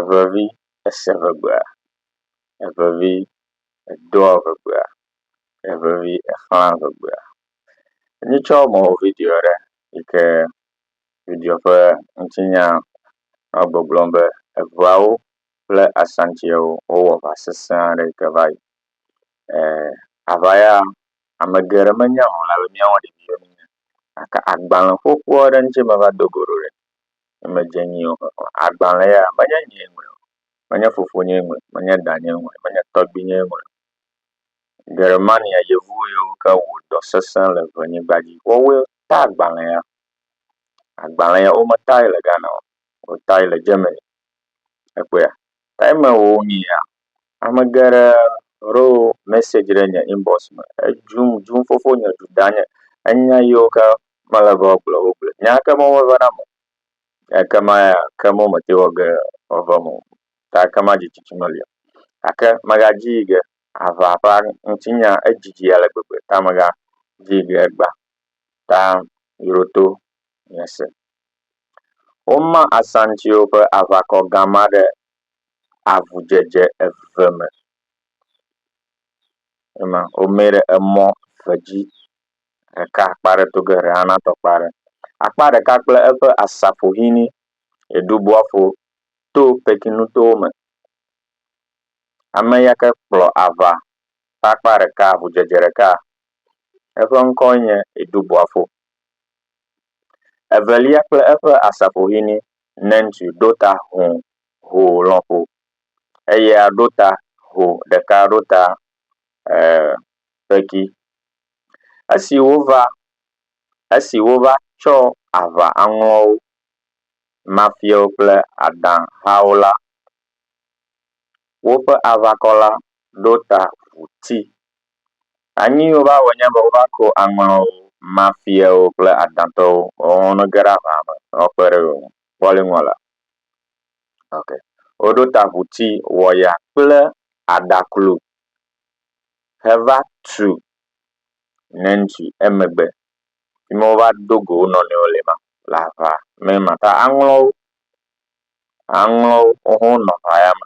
Evevi ese ŋegbea, evevi edoa ŋegbea, evevi exlãa ŋegbea. Mí tsɔ mɔ wɔ video ɖe yi ke video ƒe ŋutinya nɔ gbɔgblɔm be eŋeawo kple asantiawo wowɔ aŋa sese aɖe yi ke va yi. E aŋa ya ame geɖe menya o elabe míawo ɖeviwo míenye gake agbale xoxo aɖe ŋuti meva do go ɖo ɖe. ne medze nyuie o hã, agbalẽ ya menye nyee ŋlɔe o, menye fofonyee ŋlɔe o, menye danyee ŋlɔe o, menye tɔgbuinyee ŋlɔe o. Germania yevu yiwo ke wɔ dɔ sesẽ le ŋenyigba dzi woawoe ta agbalẽ ya. Agbalẽ ya wometae le Ghana o, wotae le Germany. Èkpɔea? Time wò wonyia, ame geɖe ɖo message ɖe nye inbox me edzum dzum fofo nye du danye. Enya yiwo ke mele be woagblɔ wo gblɔe. Nya ke mɔwo meva na ame o. Eke ma ya ke mɔ mete wɔ ge wòava eme o. Ta eke ma dzi tsitsi meli o. Gake megadzi yi ge aʋa ƒe ŋutinya edzidzi ale gbegbe ta megadzi yi ge gbã ta yroto nye se. Woma Asantiwo ƒe aʋakɔ gã ma ɖe avudzedze eve me. Ema womee ɖe emɔ eve dzi. Ɖeka akpa ɖe to ge ɖeka natɔ akpa ɖe. Akpa ɖeka kple eƒe asafohene eɖo bɔfo to pekinutowo me. Ame ya ke kplɔ aʋa ƒe akpa ɖeka avudzedze ɖeka eƒe ŋkɔe nye Edubɔfo. Evelia kple eƒe asafovi ni Nentu ɖo ta ho ho lɔƒo. Eya ɖo ta ho ɖeka ɖo ta e kpeki. Esi wova esi wova tsɔ aʋa aŋlɔwo, mafiawo kple Ada hawo la, woƒe aʋakɔ la ɖo ta ŋu ti. Anyi wova wɔ nye be wova ko aŋɔwo, Mafiawo kple Adantɔwo wɔwɔ ne ge ɖe aʋa me ne woakpe ɖe yewo ŋu. Kpɔ ale ŋua la. Ok. Woɖo ta ʋuti wɔya kple aɖaklu heva tu Nancy emegbe. Fi ma wova do go wo nɔnɔewo le ma le aʋa me ma ta aŋlɔ wo. Aŋlɔ wo woawo hã wonɔ aʋa ya me.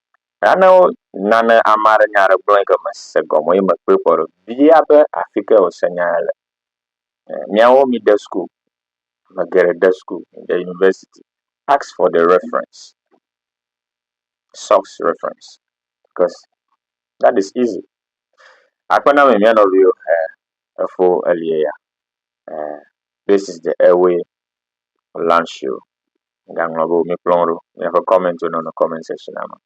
Nane nane ame aɖe nya aɖe gblɔ yi ke mese gɔme o ye mekpɔe kpɔ ɖo bia be afi ka wose nya ya le. Miawo mide school, ame geɖe de school, mide university, ask for the reference, source reference cause that is easy. Akpe na ame mía nɔviwo, efo elie ya, this is the airway Olansi o. Egaŋlɔ be wo mikplɔ wo ɖo. Miaƒe kɔmɛntwo nɔnɔ kɔmɛnt sɛshinua me.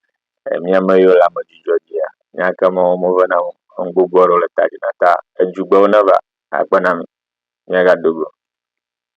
E mía me yiwo le ame dzudzɔ dzia, míagake me wo meve na wo. Enu gbogbo aɖewo le ta dzi na ta edzugbewo neva. Akpe na mi. Míagado go.